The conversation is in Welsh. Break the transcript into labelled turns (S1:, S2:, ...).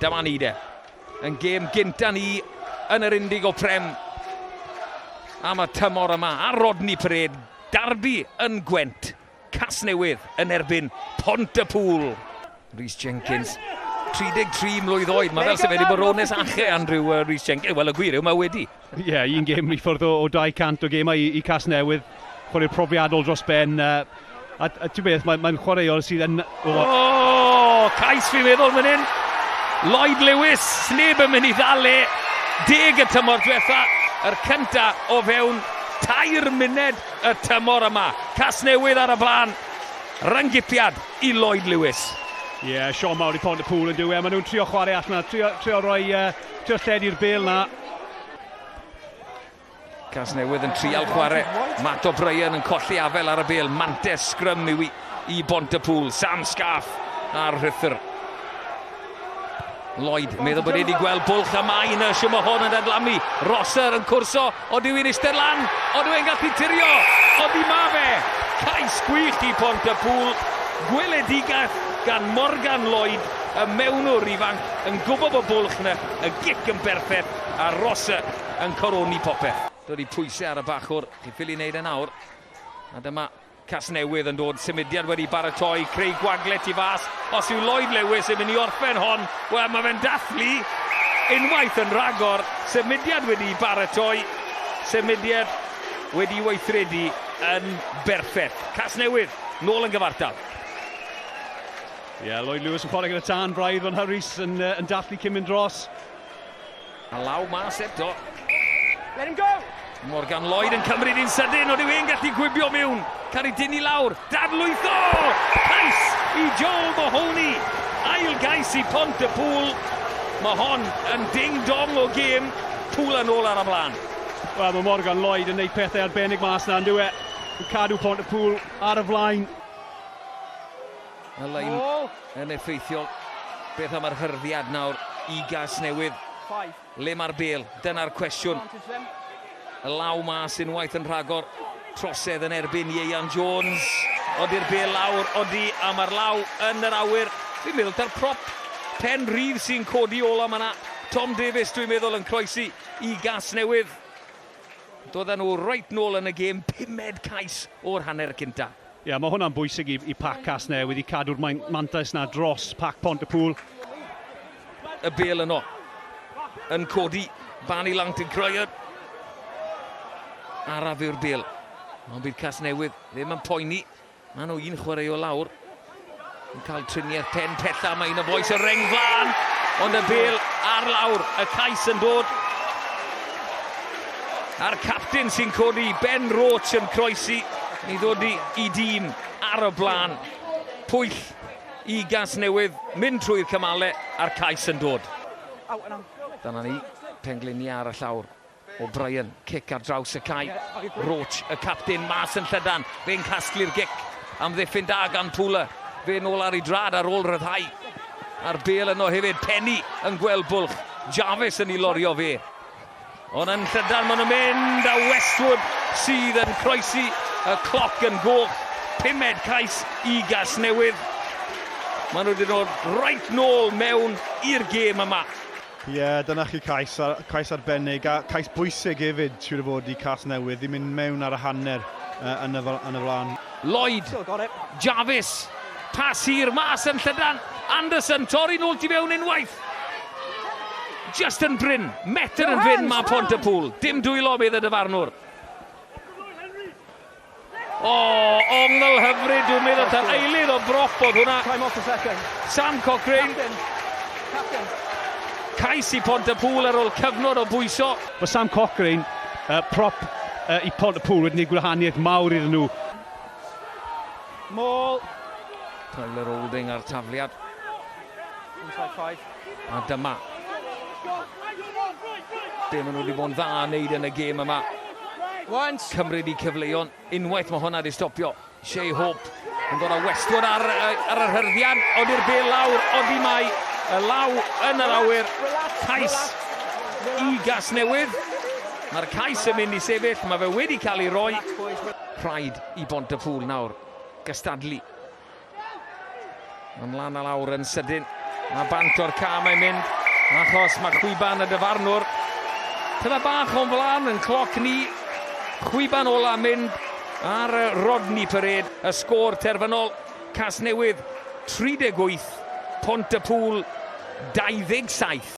S1: Dyma ni de, yn gêm gynta ni yn yr Indig o Prem am y tymor yma a Rodney Parade, Darby yn Gwent, Casnewydd yn erbyn Pont y Pŵl. Rhys Jenkins, 33 mlwydd oed, mae fel sefydlu bod Rones Ache, Andrew uh, Rhys Jenkins, wel y gwir yw mae wedi. Ie, un gêm i
S2: ffwrdd o, o 200 o gemau i, i Casnewydd. Chwarae'r profiadol dros ben. A, a, a ti'n beth, mae'n mae chwaraewr sydd yn... O, oh,
S1: cais fi'n meddwl fan hyn. Lloyd Lewis, neb yn mynd i ddal e. Deg y tymor diwetha, yr cynta o fewn tair muned y tymor yma. Casnewydd ar y blaen, ryngipiad i Lloyd Lewis. Ie, yeah, Sean
S2: Mawr i pond y pŵl yn diwy, a maen nhw'n trio chwarae allan, trio, trio rhoi uh, Trio lledu'r bel na.
S1: Casnewydd yn trial chwarae. Matt O'Brien yn colli afel ar y bel. Mantes sgrym yw i, i bont y pŵl. Sam Scarf ar rhythr. Lloyd, meddwl bod wedi gweld bwlch am ai yn y siwm o hwn yn dadlamu. Rosser yn cwrso Ond yw hi'n eistedd lan? Ond yw e'n gallu tirio? Ond i ma fe! Cais gwych i Pont y Pŵl. Gweledigaeth gan Morgan Lloyd, y mewnwr ifanc, yn gwybod bod bwlch na y gic yn berffeth a Rosa yn coroni popeth. Dod i pwysau ar y bachwr, chi'n ffili wneud e nawr. A dyma Casnewydd yn dod, symudiad wedi baratoi, creu gwagle tu fas, os yw Lloyd Lewis yn mynd i orffen hon, wel mae fe'n dathlu unwaith yn rhagor, symudiad wedi baratoi, symudiad wedi weithredu yn berffaith. Casnewydd, nôl yn gyfartal.
S2: Ie, yeah, Lloyd Lewis yn chwarae gyda tân, braidd fan Harris yn, uh, yn dathlu cyn mynd dros. A
S1: law mas eto. Let him
S3: go! Morgan Lloyd
S1: yn cymryd i'n sydyn, ond yw e'n gallu gwibio miwn? Cael ei dynnu lawr, dadlwytho! Cais i Joel Mahoney, ail gais i Pont y Pŵl. Mae hon yn ding-dong o gêm, Pŵl yn ôl ar y blaen. Wel, mae Morgan
S2: Lloyd yn neud pethau arbennig mas na, yn dywe. Yn cadw Pont y Pŵl ar y flaen.
S1: Y lein yn effeithiol. Beth am yr hyrddiad nawr i gas newydd? Le mae'r bel? Dyna'r cwestiwn. Y law mas unwaith yn rhagor. Trosedd yn erbyn Ieian Jones. Odi'r bel lawr, odi, a mae'r law yn yr awyr. Fi'n meddwl ta'r prop pen rhydd sy'n codi ola yma. Tom Davies, dwi'n meddwl, yn croesi i gas newydd. Doedden nhw reit nôl yn y gêm, pumed cais o'r hanner cyntaf. Ie, mae hwnna'n bwysig
S2: i, i pac Casnewydd i cadw'r mantais na dros pac Pont y Pŵl.
S1: Y bel yno. Yn codi. Bani Langt yn croer. Araf yw'r bel. Ond bydd Casnewydd ddim yn poeni. Mae nhw un chwarae o lawr. Yn cael triniaeth pen tella, mae un o boes y reng flan, ond y bel ar lawr, y cais yn dod. A'r captain sy'n codi Ben Roach yn croesi i ddod i, i dîm ar y blaen. Pwyll i gas newydd, mynd trwy'r cymalau a'r cais yn dod. Dyna ni, pengliniau ar y llawr. O'Brien, cic ar draws y cae. Roach, y capten, mas yn llydan. Fe'n casglu'r gic. Amddiffyn da gan Pula. Fe'n ôl ar ei drad ar ôl rhyddhau. A'r bel yno hefyd. Penny yn gweld bwlch. Jarvis yn ei lorio fe. Ond yn llydan maen nhw'n mynd a Westwood sydd yn croesi y cloc yn goch. Pumed cais i gas newydd. Maen nhw wedi dod rhaid nôl mewn i'r gêm yma. Ie, dyna
S4: chi cais, a cais arbennig, a cais bwysig hefyd, siŵr o fod i Casnewydd, i mynd mewn ar y hanner uh, yn, y, yn y flaen. Lloyd,
S1: Jarvis, pas hir mas yn llydan, Anderson, torri nôl ti fewn unwaith. Just yn brin, metr yn fyn mae Pont y Pŵl, dim dwylo, medd y dyfarnwr. O, ongl hyfryd, dwi'n meddwl ta'r eilydd o broff bod hwnna. Time off a second. Sam Cochrane. Captain. Captain. Cais i Pont y Pŵl ar ôl cyfnod o bwyso. Mae Sam Cochrane,
S2: uh, prop uh, i Pont y Pŵl, wedi gwneud gwahaniaeth mawr iddyn nhw. Môl.
S3: Tyler
S1: Holding ar tafliad. Inside
S3: five. A dyma.
S1: Be maen nhw wedi bod yn dda yn neud yn y gêm yma. Cymryd i cyfleon. Unwaith mae hwnna wedi stopio. Shea Hope yn dod â Westwood ar, ar yr hyrddiad. Odi'r bel lawr. Odi mai y law yn yr awyr. Cais i gas newydd. Mae'r cais yn mynd i sefyll. Mae fe wedi cael ei roi. Rhaid i Bont y Pŵl nawr gystadlu Yn lan a lawr yn sydyn. A bant o'r ca mae'n mynd. Achos mae chwiban y dyfarnwr. Tyfa bach o'n flan yn cloc ni. Chwiban ola mynd ar Rodney Parade. Y sgôr terfynol. Casnewydd 38. Pont y Pŵl 27.